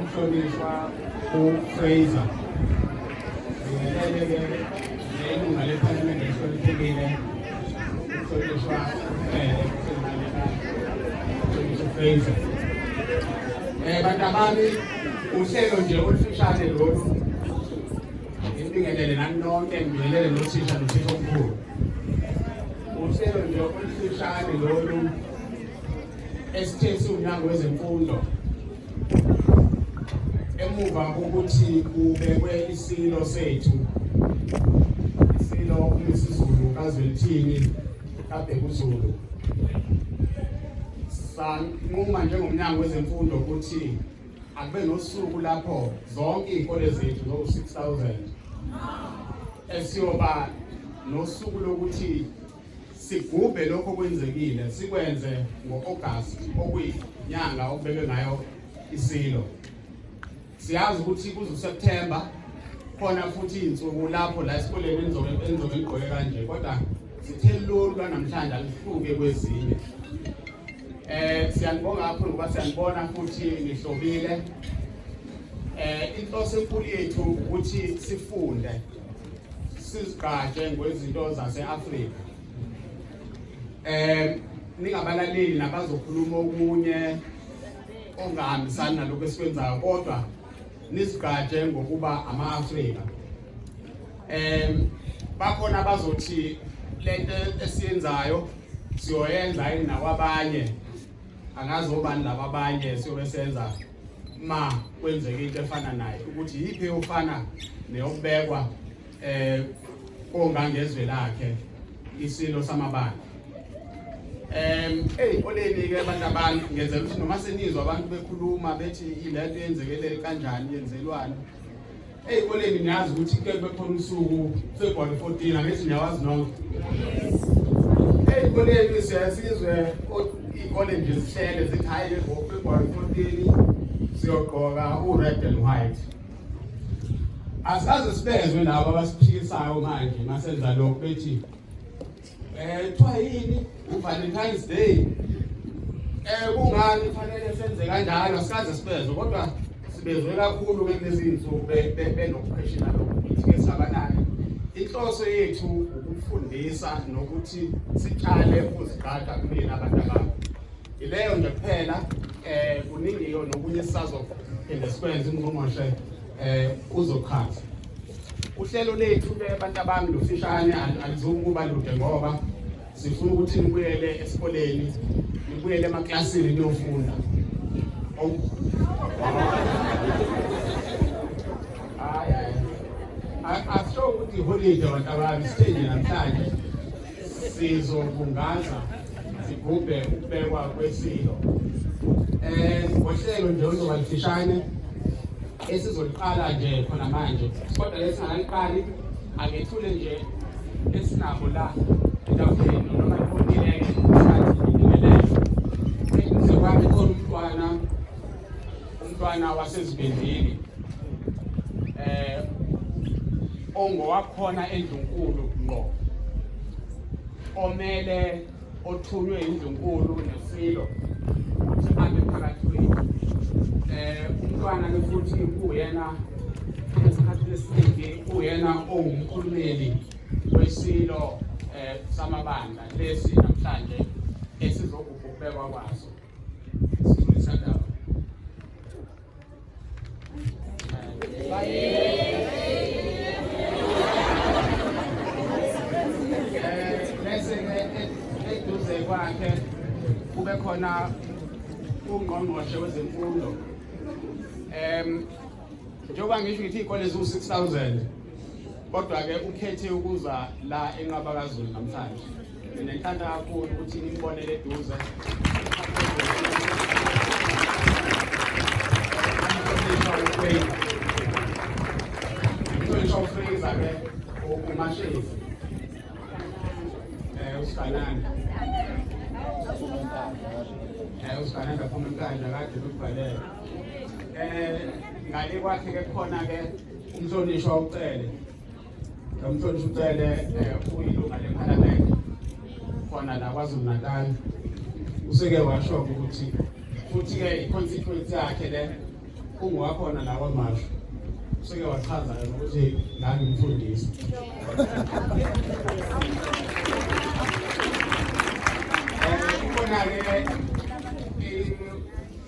Umhlonishwa uFraser ngingelele-ke nelunga lephalamende elihloniphekile umhlonishwa uFele umhlonishwa uFraser um eh, bantabami uhlelo nje olufushane lolu ngibingelele nani nonke ngibingelele nothisha nothisha omkhulu uhlelo nje olufushane lolu esithe siwumnyango wezemfundo emuva kokuthi kubekwe isilo sethu isilo umisiZulu kaZwelithini kaBhekuzulu sanquma njengomnyango wezemfundo ukuthi akube nosuku lapho zonke iy'kole zethu no-6000 esiyoba nosuku lokuthi Sigubhe lokho kwenzekile sikwenze ngo-August okuyinyanga okubekwe ngayo isilo. Siyazi ukuthi kuze uSeptember khona futhi izinsuku lapho la esikoleni enzoke enzoke igqoke kanje kodwa sithe lolu lwanamhlanje alihluke kwezinye. Eh siyanibonga kakhulu ngoba siyanibona futhi nihlobile. Eh inhloso enkulu yethu ukuthi sifunde sizigqaje ngwezinto zase-afrika um ningabalaleli nabazokhuluma okunye ongahambisani nalokhu esikwenzayo kodwa nizigqaje ngokuba ama-afrika um bakhona abazothi le nto esiyenzayo siyoyenza yini nakwabanye angazi obani laba abanye siyobe senza ma kwenzeka into efana naye ukuthi yiphi eyofana neyokubekwa eh ongangezwe lakhe isilo samabandla em hey oleni ke abantu abantu ngeze ukuthi noma senizwa abantu bekhuluma bethi ilento yenzekelele kanjani yenzelwani Ey'koleni niyazi ukuthi kuke kube khona usuku February 14 angithi niyawazi nonke. Ey'koleni siyasizwe iy'kole nje zihlele zithi hhayi ngo-February 14 siyogqoka u-red and white. Asaze sibezwe labo abasiphikisayo manje masenza lokhu bethi Eh kuthiwa yini uValentine's Day? Eh kungani kufanele senze kanjalo sikaze sibezwe kodwa sibezwe kakhulu ke kulezi insuku benokupheshela lokuthi ke sabanani. Inhloso yethu ukufundisa nokuthi sitshale uziqaqa kulena abantu ababo. Ileyo nje kuphela eh kuningi yona okunye sisazo phinde sikwenze ingqongqoshe eh uzoqhatha uhlelo lethu ke abantu abami lufishane alizokuba lude ngoba sifuna ukuthi nibuyele esikoleni nibuyele emaklasini niyofunda hayi hayi akusho ukuthi iholide abantu abami sithenje namhlanje Sizobungaza sigubhe ukubekwa kwesilo eh ngohlelo nje oluzoba lifishane esizoliqala nje khona manje kodwa lesingakaliqali akethule nje esinabo la etafuleni noma ikhontileke isikhathi ngibingelele ekwami khona umntwana umntwana wasezibindini eh ongowakhona endlunkulu ngqo omele othunywe indlunkulu nesilo ukuthi abe phakathi kwethu eh umntwana ke futhi uyena esikhathi esiningi uyena owumkhulumeli wesilo eh samabandla lesi namhlanje esizokubhekwa kwaso khona ungqongqoshe wezemfundo um njengoba ngisho ngithi iy'kole ziwu-six thousand kodwa-ke ukhethe ukuza la enqabakazulu namhlanje Mina ngithanda kakhulu ukuthi nibonele eduze. Ngisho ufriza ke umashezi. Eh usikanani. Eh usikanani kakhulu inkandla kade ukubhalela. Eh ngale kwakhe ke khona ke umhlonishwa ucele Nomfundisi uCele eh, uyilunga lephalamende khona la KwaZulu-Natal useke washo ukuthi futhi-ke i-constituency yakhe le ungowakhona la kwamasho useke wachaza ukuthi ngangimfundisi eh, khona-ke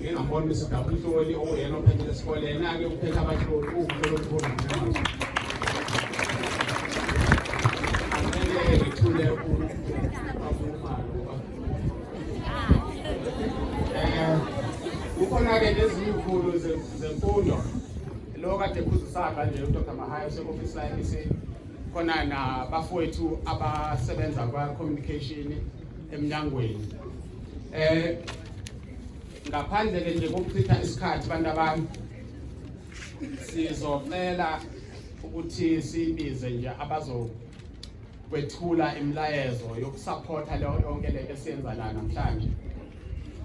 ngingambona ukuthi udaba umhloli okuyena ophethile esikole yena-ke uphethe abahloli uwumhloli omkhulu angeke ngithule kukhona-ke nezinye izikhulu zemfundo lo kade khuzisaka nje udr mahayo useofisi la-mec khona nabafowethu abasebenza kwa-communication emnyangweni eh ngaphandle ke nje kokuchitha isikhathi abantu abami sizocela ukuthi sibize nje abazo kwethula imilayezo yokusupporta leyo yonke le esiyenza la namhlanje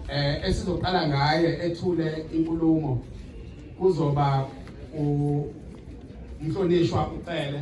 eh esizoqala ngaye ethule inkulumo kuzoba umhlonishwa ucele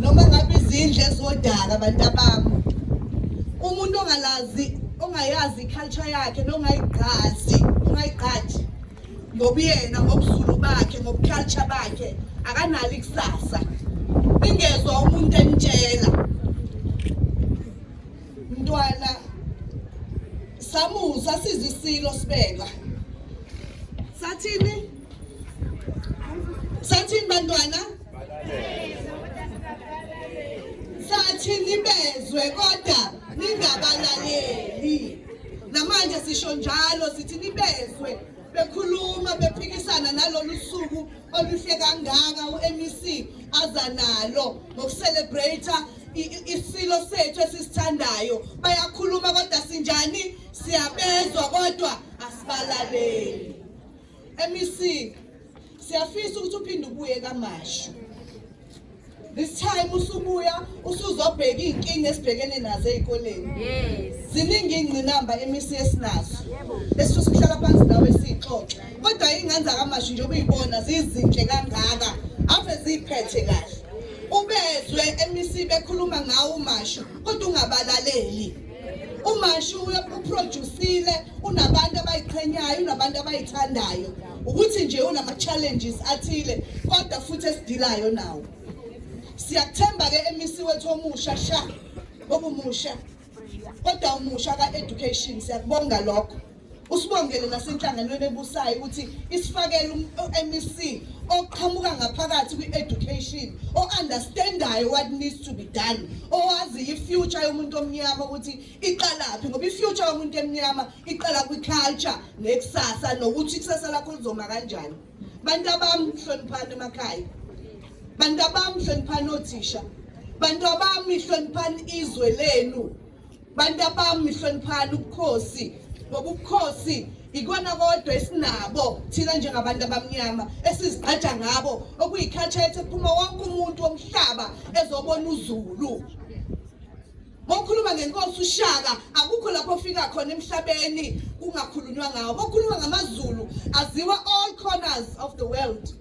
noma ngabe izindle zodaka abantu abami umuntu ongalazi ongayazi iculture yakhe nongayigqazi ongayigqaji ngobuyena ngobuzulu bakhe ngobuculture bakhe akanalo ikusasa ingezwa umuntu emtshela mntwana samusa siza isilo sibeka sathini sathini bantwana sathi nibezwe kodwa ningabalaleli namanje sisho njalo sithi nibezwe bekhuluma bephikisana nalolu suku oluhle kangaka u-mec aza nalo ngokucelebrate isilo sethu esisithandayo bayakhuluma kodwa sinjani siyabezwa kodwa asibalaleli MEC siyafisa ukuthi uphinde ubuye kamashu this time usubuya usuzobheka iy'nkinga esibhekene nazo ey'koleni ziningi iy'ngqinamba emisi esinazo esifisa ukuhlala phansi nawe siyixoxe kodwa iy'ngane zakamashu njengoba uyibona zizinhle kangaka ave ziyiphethe kahle ubezwe emisi bekhuluma ngawo umashu kodwa ungabalaleli umashu uproducile unabantu abayiqhenyayo unabantu abayithandayo ukuthi nje unama-challenges athile kodwa futhi esidilayo nawo siyakuthemba-ke emisi wethu omusha sha okumusha kodwa umusha ka-education siyakubonga lokho Usibongele nasenhlanganweni ebusayo ukuthi isifakele uMEC oqhamuka ngaphakathi kwi-education o-understandayo what needs to be done owaziyo i-future yomuntu omnyama ukuthi iqalaphi ngoba i-future yomuntu emnyama iqala kwi-culture nekusasa nokuthi ikusasa lakho lizoma kanjani bantu abami hloniphani emakhaya bantu abami hloniphani othisha bantu abami hloniphani izwe lenu bantu abami hloniphani ubukhosi ngoba ubukhosi ikona kodwa esinabo thina njengabantu abamnyama esizigqaja ngabo okuyikhathethe phuma wonke umuntu womhlaba ezobona uzulu Mokhuluma ngenkosi uShaka akukho lapho ofika khona emhlabeni kungakhulunywa ngawo. Mokhuluma ngamaZulu aziwa all corners of the world.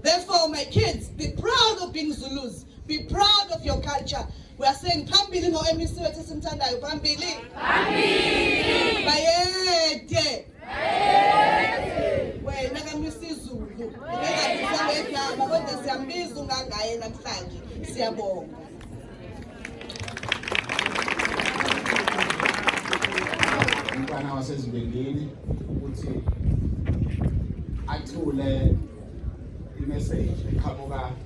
Therefore my kids be proud of being Zulus. Be proud of your culture. We are saying phambili ngo MEC wethu esimthandayo phambili. Phambili. Bayede. Bayede. Wena kaMisi Zulu. Ngeke ngizame kodwa siyambiza ungangaye namhlanje. Siyabonga. umntwana wasezibengini ukuthi athule imeseji eqhamuka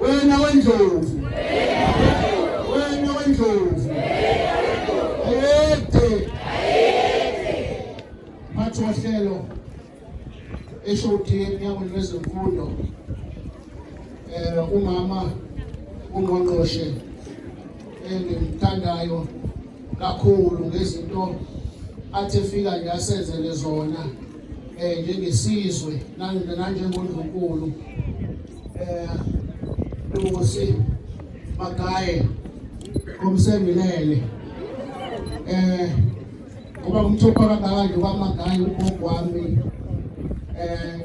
wena wendlovu wena wendlovu ayede mphathi wohlelo eshodi emnyangweni wezemfundo um umama ungqongqoshe engimthandayo kakhulu ngezinto athi efika nje asenzele zona eh njengesizwe nanjengondlunkulu eh Lusi Magaye komsengilele eh ngoba umthupha kangaka nje kwamagaye ugogo wami eh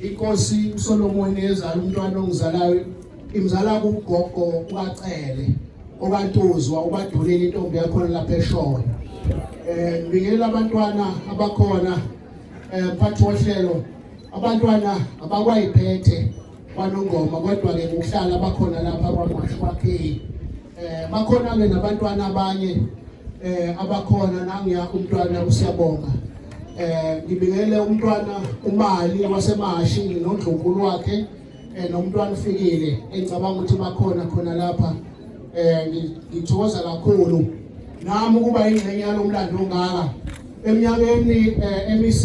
inkosi uSolomon ezala umntwana ongizalayo Imzala kugogo uBacele okantuzwa ubadulile intombi yakhona lapha eShowe. Eh ngibingelela abantwana abakhona eh mphathi wohlelo abantwana abakwayiphethe kwanongoma kodwa ke ngokuhlala abakhona lapha kwaMashu kwaKheli. Eh bakhona ke nabantwana abanye eh abakhona nangiya umntwana usiyabonga. Eh ngibingelela umntwana umali wasemashi nondlunkulu wakhe eh nomntwana ufikile engicabanga ukuthi bakhona khona lapha eh ngithokoza kakhulu nami ukuba ingxenye yalomlando ongaka eminyakeni eh, MEC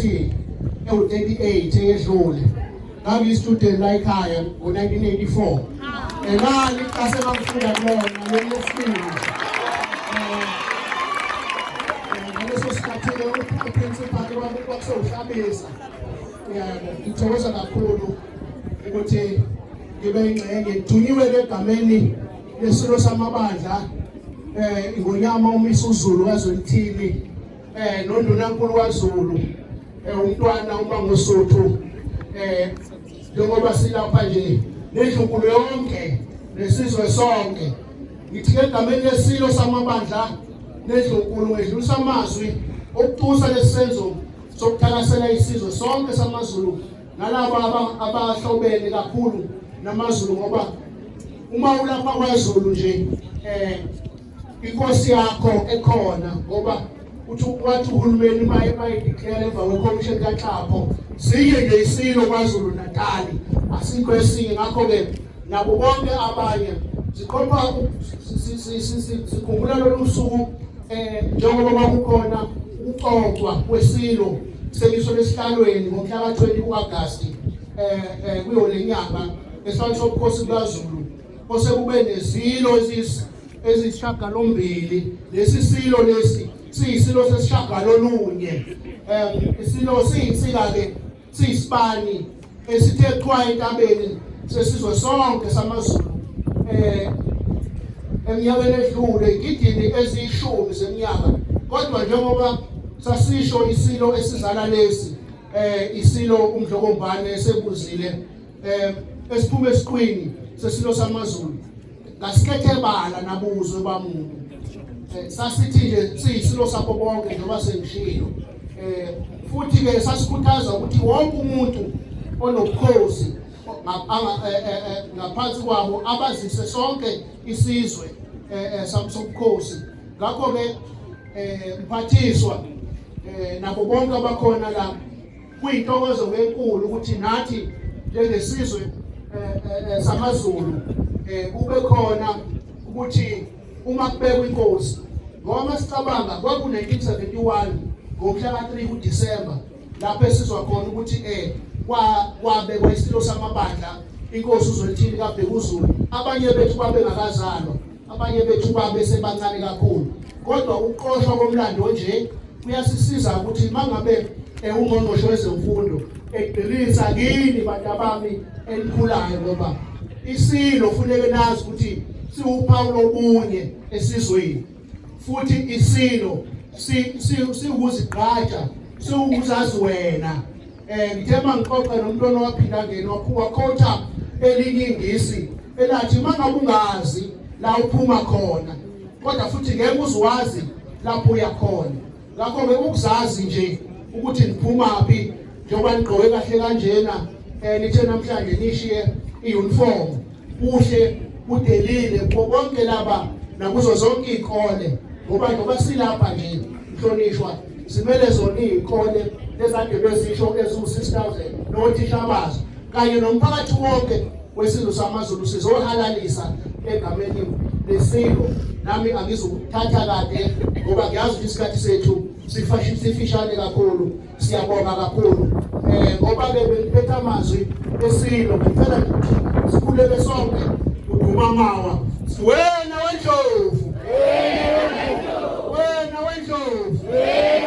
ewu-38 eyedlule ngangiyistudent la ekhaya ngo-1984 elali kase bangifunda kulona lolofika eh, eh, ngaleso sikhathi-ke uprincipal kwakusewuhlabisa yabo ngithokoza kakhulu ukuthi ngibe ingxenye ngithunyiwe egameni lesilo samabandla eh ngonyama umisa uZulu wazwelithini eh nondunankulu kwaZulu eh umntwana uma ngosuthu eh njengoba silapha nje nedlunkulu yonke nesizwe sonke ngithi egameni lesilo samabandla nedlunkulu ngedlulisa amazwi okutusa lesenzo sokuthakasela isizwe sonke samaZulu nalabo abahlobene kakhulu namaZulu ngoba uma ulapha kwaZulu nje eh inkosi yakho ekhona ngoba uthi wathi uhulumeni maye bayideclare emva kwekhomishini kaXhapho siye nje isilo kwaZulu Natal asikho esinye ngakho ke nabo bonke abanye siqopha sikhumbula lolu suku eh njengoba bakukhona ukuxoxwa kwesilo Semiswe lesihlalweni ngomhla ka-20 kuAgasti eh, eh kuyo lenyanga esihlalweni sobukhosi bukaZulu osekube nezilo eziyisishagalombili lesi silo lesi siyisilo sesishagalolunye um isilo siyinsika-ke siyisibani esithe qwa entabeni sesizwe sonke samaZulu eh eminyakeni edlule igidini eziyishumi zeminyaka kodwa njengoba sasisho isilo esizala lesi eh isilo umdlokombane esebuzile eh esiphume esiqwini sesilo samaZulu Ngasikhethebala nabuzwe bamuntu. Eh, sasithi nje sisi lo sapho bonke njengoba sengishilo. Eh futhi ke sasikhuthaza ukuthi wonke umuntu onobukhosi eh, eh, eh, ngaphansi kwabo abazise sonke isizwe sobukhosi ngakho ke mphathiswa nabo bonke abakhona la Kuyintokozo enkulu ukuthi nathi njengesizwe eh, eh, eh, samaZulu kube khona ukuthi uma kubekwa inkosi ngoba masicabanga kwaku-1971 ngomhla ka-3 kuDisemba lapho esizwa khona ukuthi eh kwabekwa isilo samabandla inkosi uZwelithini kaBhekuzulu abanye bethu babengakazalwa abanye bethu babe sebancane kakhulu kodwa ukuqoshwa komlando onje kuyasisiza ukuthi mangabe ewungqongqoshe wezemfundo egqilisa kini bantu abami elikhulayo ngoba isilo funeke nazi ukuthi siwuphawu lobunye esizweni futhi isilo siwukuzigqaja siwukuzazi wena Eh ngithe mangixoxe nomuntu onowaphila ngene wakhuwa khotha elinye ingisi elathi mangabe ungazi la uphuma khona kodwa futhi ngeke uzwazi lapho uya khona ngakho ke ukuzazi nje ukuthi ngiphuma phi njengoba nigqoke kahle kanjena eh nithe namhlanje nishiye iuniform kuhle kudelile kubo bonke laba nakuzo zonke iy'kole ngoba ngoba silapha nje mhlonishwa simele zona iy'kole lezade bezisho eziwu-six thousand nothisha bazo kanye nomphakathi wonke wesizwe samazulu sizohalalisa egameni lesilo nami angizukuthatha kade ngoba ngiyazi ukuthi isikhathi sethu sifishane kakhulu Siyabonga kakhulu eh ngoba ke bengiphetha amazwi esilo ngicela sikhuleke sonke uduma mawa wena wendlovu wena wendlovu wena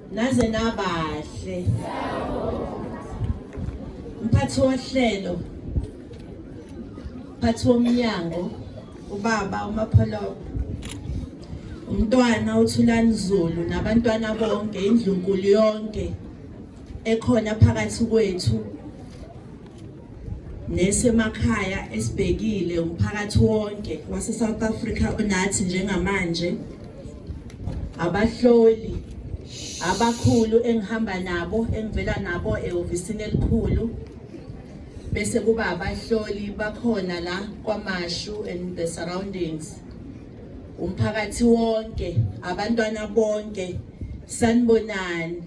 Naze nabahle. Mphathi wohlelo. Mphathi womnyango ubaba uMapholobo. Umntwana uThulani Zulu nabantwana bonke indlunkulu yonke ekhona phakathi kwethu nesemakhaya esibhekile umphakathi wonke wase-south africa onathi njengamanje abahloli abakhulu engihamba nabo engivela nabo ehhovisini elikhulu bese kuba abahloli bakhona la kwamashu and the surroundings umphakathi wonke abantwana bonke sanibonani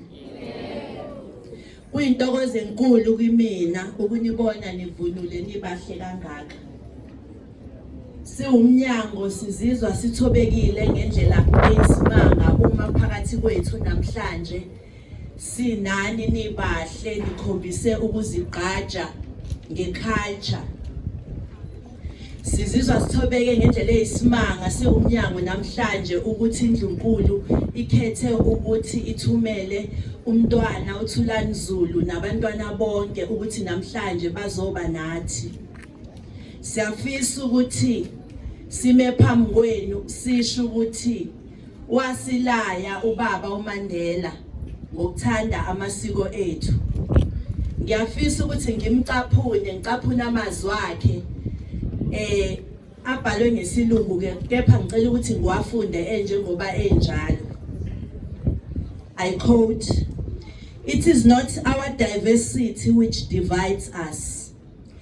Kuyintokozo enkulu kimina ukunibona nivunule nibahle kangaka. Siwumnyango sizizwa sithobekile ngendlela eyisimanga uma phakathi kwethu namhlanje sinani nibahle nikhombise ukuzigqaja ngeculture Sizizwa sithobeke ngendlela eyisimanga siwumnyango namhlanje ukuthi indlunkulu ikhethe ukuthi ithumele umntwana uThulani Zulu nabantwana bonke ukuthi namhlanje bazoba nathi. Siyafisa ukuthi sime phambi kwenu sisho ukuthi Wasilaya ubaba uMandela ngokuthanda amasiko ethu. Ngiyafisa ukuthi ngimcaphune, ngicaphune amazwi akhe eh abhalwe ngesilungu ke kepha ngicela ukuthi ngiwafunde enjengoba enjalo. I quote It is not our diversity which divides us.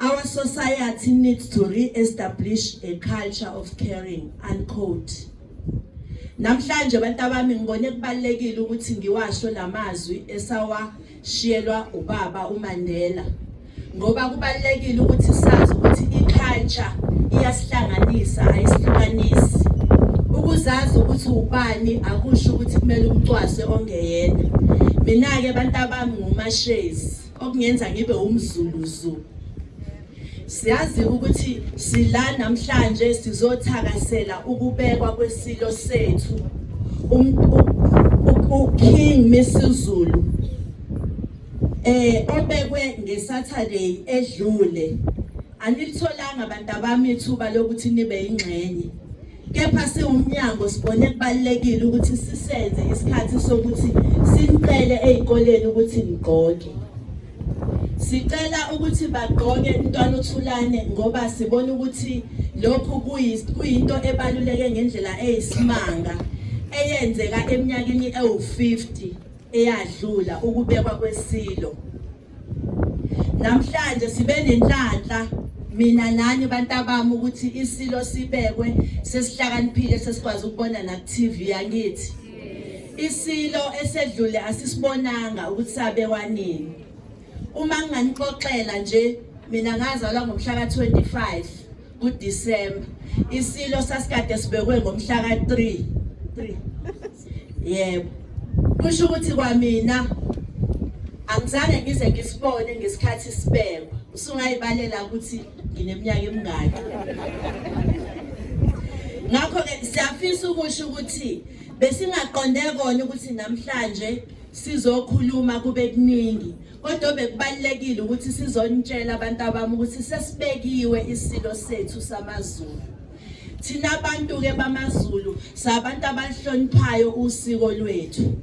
Our society needs to re-establish a culture of caring, unquote. Namhlanje abantu abami ngibone kubalekile ukuthi ngiwasho lamazwi esawashiyelwa ubaba uMandela. Ngoba kubalekile ukuthi sazi ukuthi iculture iyasihlanganisa ayisihlukanisi. Ukuzazi ukuthi ubani akusho ukuthi kumele umcwase ongeyena. Mina ke abantu abami ngumashezi. okungenza ngibe umzulu zulu siyazi ukuthi sila namhlanje sizothakasela ukubekwa kwesilo sethu uKing Misizulu eh obekwe ngeSaturday edlule anilitholanga abantu abami ithuba lokuthi nibe ingxenye Kepha siwumnyango sibone kubalulekile ukuthi sisenze isikhathi sokuthi sinicele ezikoleni ukuthi nigqoke. Sicela ukuthi bagqoke intwana uthulane ngoba sibona ukuthi lokhu kuyinto ebaluleke ngendlela eyisimanga eyenzeka eminyakeni ewu-50 eyadlula ukubekwa kwesilo. namhlanje sibe nenhlanhla mina nani bantabami ukuthi isilo sibekwe sesihlakaniphile sesikwazi ukubona na TV yangithi isilo esedlule asisibonanga ukuthi sabekwa nini uma nginganixoxela nje mina ngazalwa ngomhla ka 25 kuDecember isilo sasikade sibekwe ngomhla ka3 3 yebo kusho ukuthi kwamina angizange ngize ngisibone ngesikhathi sibekwa usungayibalela ukuthi ngineminyaka emingaki ngakho ke siyafisa ukusho ukuthi besingaqonde kona ukuthi namhlanje sizokhuluma kube kuningi Kodwa bekubalekile ukuthi sizonitshela abantu abami ukuthi sesibekiwe isilo sethu samaZulu. Thina abantu ke bamaZulu sabantu abahloniphayo usiko lwethu.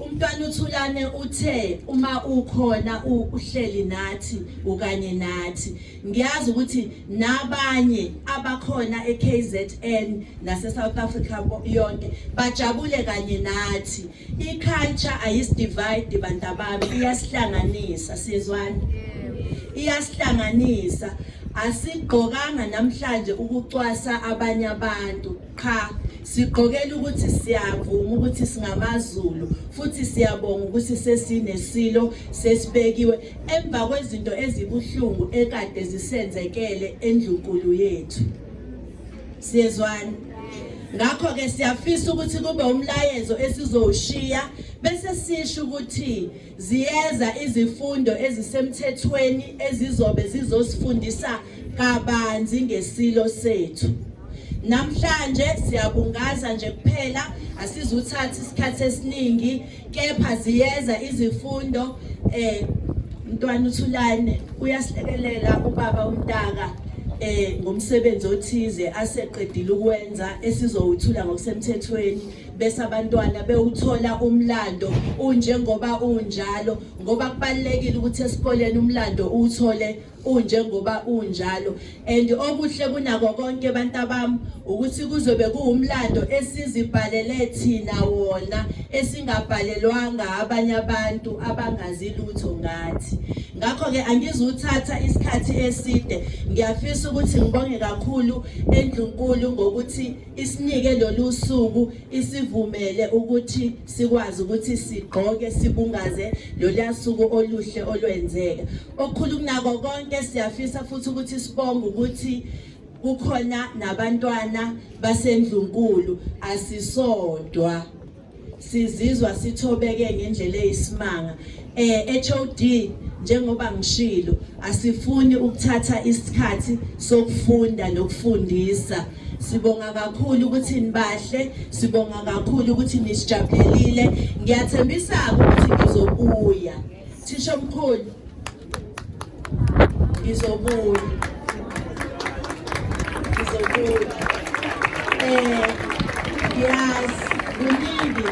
Umntwana uthulane uthe uma ukhona uhleli nathi ukanye nathi ngiyazi ukuthi nabanye abakhona eKZN nase South Africa yonke bajabule kanye nathi I-culture ayisidivide bantabami iyasihlanganisa sizwani iyasihlanganisa asigqokanga namhlanje ukucwasa abanye abantu qha sigqokela ukuthi siyavuma ukuthi singamaZulu futhi siyabonga ukuthi sesinesilo sesibekiwe emva kwezinto ezibuhlungu ekade zisenzekele endlunkulu yethu siyezwana ngakho ke siyafisa ukuthi kube umlayezo esizowushiya bese sisho ukuthi ziyeza izifundo ezisemthethweni ezizobe zizosifundisa kabanzi ngesilo sethu namhlanje siyabungaza nje kuphela asizuthatha isikhathi esiningi kepha ziyeza izifundo eh mntwana uthulane uyasilekelela ubaba umntaka eh ngomsebenzi othize aseqedile ukwenza esizowuthula ngokusemthethweni bese abantwana bewuthola umlando unjengoba unjalo ngoba kubalekile ukuthi esikoleni umlando uthole unjengoba unjalo and okuhle kunako konke abantu abami ukuthi kuzobe kuwumlando esizibhalele thina wona esingabhalelwanga abanye abantu abangazi lutho ngathi ngakho ke angizuthatha isikhathi eside ngiyafisa ukuthi ngibonge kakhulu endlunkulu ngokuthi isinike lolu suku isivumele ukuthi sikwazi ukuthi sigqoke sibungaze lolu suku oluhle olwenzeka Okukhulu kunako konke siyafisa futhi ukuthi sibonge ukuthi kukhona nabantwana basendlunkulu asisodwa sizizwa sithobeke ngendlela eyisimanga eh HOD njengoba ngishilo asifuni ukuthatha isikhathi sokufunda nokufundisa sibonga kakhulu ukuthi nibahle sibonga kakhulu ukuthi nisijabulile ngiyathembisa ukuthi ngizobuya Thisha mkhulu. Ngizobuya. Ngizobuya. Eh, yes, kuningi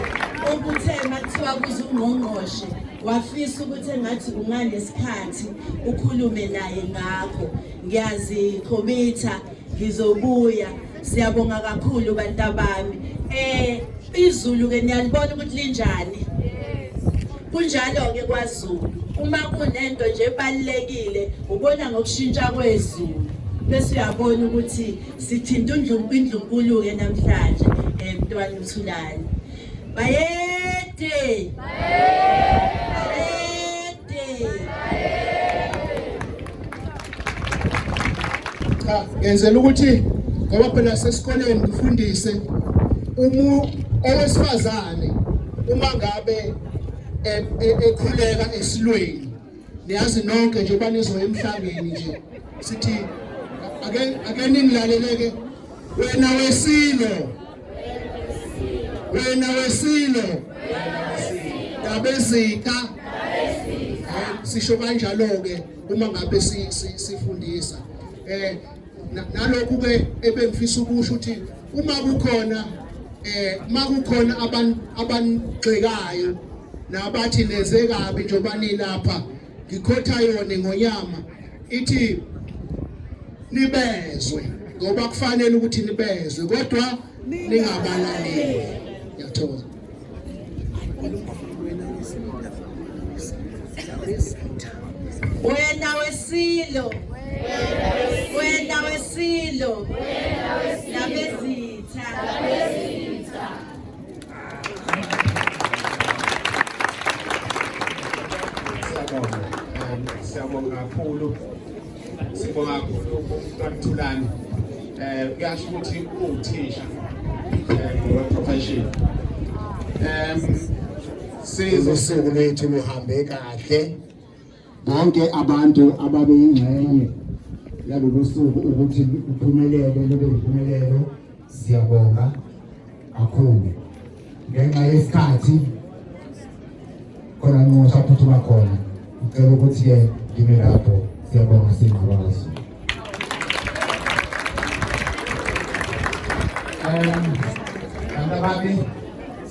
okuthe makuthiwa kuze ungqongqoshe wafisa ukuthi engathi unganesikhathi ukhulume naye ngakho ngiyazikhomitha ngizobuya Siyabonga kakhulu bantabami. Eh izulu ke niyalibona ukuthi linjani. Kunjalo ke kwaZulu. Uma kunento nje ebalekile ubona ngokushintsha kwezulu. Bese uyabona ukuthi sithinta undlungu indlunkulu ke namhlanje emntwana eh, uthulani. Bayede. Bayede. cha ngenzela ukuthi ngoba phela sesikoleni ngifundise umu owesifazane uma ngabe e- e- ekhuleka esilweni niyazi nonke nje banizoya emhlabeni nje sithi ake ake ningilaleleke wena wesilo wena wesilo ndabezitha sisho kanjalo ke uma ngabe sifundisa eh nalokhu ke ebengifisa ukusho ukuthi uma kukhona eh makukhona abantu abanigxekayo nabathi neze kabi njengoba nilapha ngikhotha yona ingonyama ithi nibezwe ngoba kufanele ukuthi nibezwe kodwa ningabalaleli ngiyathokoza wena wesilo wena wesilo nabezitha Siyabonga kakhulu. Sibonga kakhulu uMntwana Eh kuyasho ukuthi uthisha eh profession. Em sizo sokulethu luhambe kahle. bonke abantu ababeyingxenye yalolu suku ukuthi kuphumelele lube yimpumelelo siyabonga kakhulu ngenxa yesikhathi khona nqosha futhi bakhona ngicela ukuthi-ke ngime lapho siyabonga singqabazo um bantu abami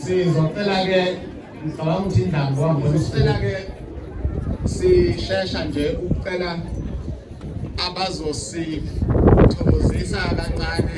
sizocela-ke ngicabanga ukuthi indaba kwangibona sicela ke sishesha nje ukucela abazosithokozisa kancane